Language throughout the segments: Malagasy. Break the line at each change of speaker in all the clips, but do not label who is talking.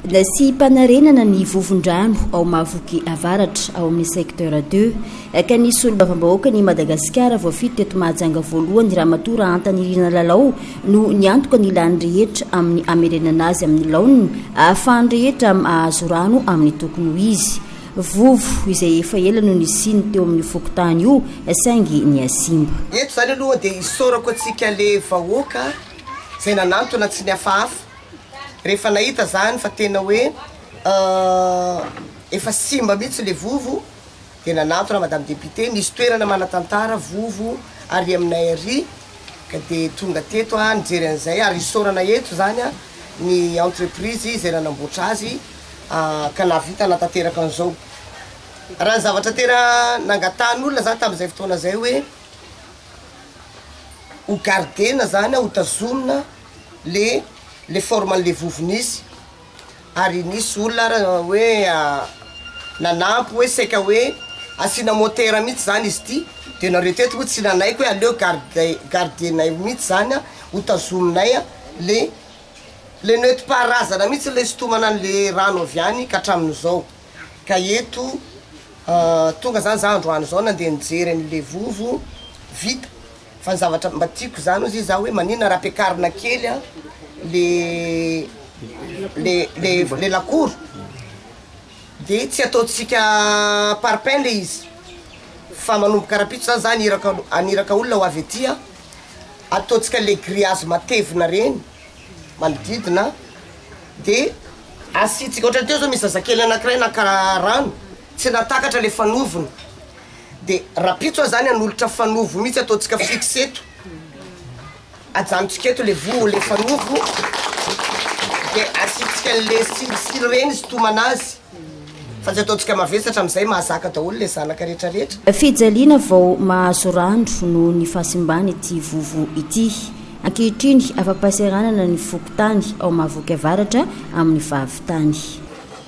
Nasiam-panarenana ny vovon-drano ao Mahavoky Avaratra ao amin'ny Secteur deux ka ny Solombavambahoakan' i Madagasikara voafidy teto Mahajanga voalohany Ramatoa Rahantanirina Lalao no niantoka ny lany rehetra amin'ny hamerenana azy amin'ny laoniny ahafahan'ny rehetra mahazo rano amin'ny tokony ho izy. Vovo izay efa ela no nisiany teo amin'io fokontany io saingy nihasimba. Eto izany aloha dia
isaorako antsika le vahoaka izay nanantona tsy nihafahafa. Rehefa nahita zany fa tena hoe efa simba mihitsy le vovo dia nanantona madame députée, nisy toerana manatantara vovo ary aminay ary ka dia tonga teto aho nijery an'izay ary isaorana eto zany ny entreprise izay nanamboatra azy ka nahavita nanatanteraka an'izao. Raha ny zavatra tena nangatahan'olona za tamin'izay fotoana zay hoe ho gardena zany, ho tazomina. le le forme anle vovony izy ary nisy olona ary hoe nanampy hoe saika hoe asiana motera mihitsy zany izy ity de nareo teto moa tsy nanaiky hoe aleo garde gardenay mihitsy zany an hotazominay an le le nentim-paharazana mihitsy le sintomana anle rano avy any ka hatramin'izao ka eto tonga zany za androany zao nandeha nijery anle vovo vita Fa ny zavatra mba tiako zany ozy za hoe manina raha ampiakarina kely an le le le le lakoro de tsy ataontsika parpaing le izy fa manomboka rapitso za zany iraka aniraka olona ho avy aty an ataontsika le griazy matevina reny manodidina de asiantsika otrany teo zao misy zazakely anakiray naka rano tsy nahatakatra le fanoviny Dia rapitso azany hanolotra fanovo mihitsy ataontsika fixe eto ajanontsika eto le voa le fanovo de asiantsika le silisily reny sitomana azy fa tsy ataontsika mavesatra amizay mahazaka daholo le zanaka retraretra. Fijaliana vao
mahazo rano noho ny fahasimbana ity vovo ity. Ankehitriny, afa-pahasahiranana ny fokontany ao Mahavoky Avaratra amin'ny fahavitany.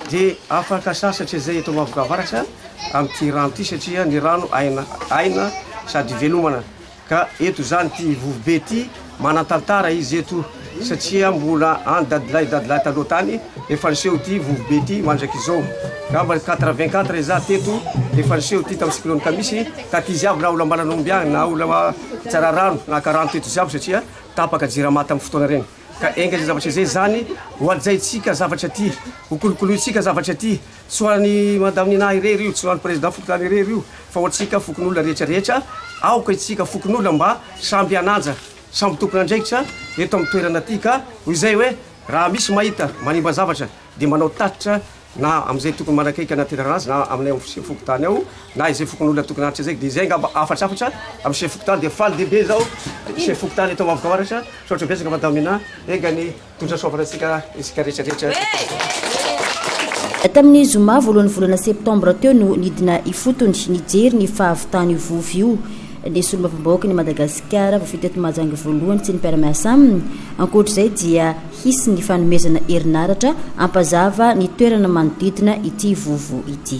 Dia
afaka sasatra izay eto Mahavoky Avaratra. amin'ity rano ity satria ny rano aina aina sady ivelomana ka eto izany ity vovobe ity manantantara izy eto satria mbola any dadilahy dadilahy taloha tany efa niseho ity vovobe ity mandrakizao ngamba 84 izaho teto efa niseho ity tamin'ny cyclone kamisy taty izy avy na olam-balanomby agny na olama tsara rano naka rano teto izy avy satria tapaka jirama tamin'ny fotoana regny ka enga izay zavatra izay zany hohajaintsika zavatra ty hokolokolointsika zavatra ty Tsy ho an'i Madame Nina irery io, tsy ho an'ny Président Fokontany irery io, fa ho antsika fokonolona rehetra rehetra, aoka isika fokonolona mba samby hananja, samby tompon'andraikitra eto amin'ny toerana ity ka ho izay hoe raha misy mahita manimba zavatra dia manao tatitra na amin'izay tokony manakaiky hanatenana azy na aminay ao Chef Fokontany ao na izay fokonolona tokony hanatitra izay, dia izay angamba hafatrafatra amin'ny Chef Fokontany, dia faly dia be izaho Chef Fokontany eto Amavokao Aratra, misaotra betsaka Madame Nina, enga ny. Tondra soavina antsika isika rehetra rehetra.
Tamin'ny zoma voalohan'ny volana septambra teo no nidina ifotony nijery ny fahavitany io vovo io ny solombavambahoakan'i Madagasikara voafidy teto Mahajanga voalohany sy ny mpiara-miasa aminy. Ankoatr'izay dia hisy ny fanomezana herinaratra hampazava ny toerana manodidina ity vovo ity.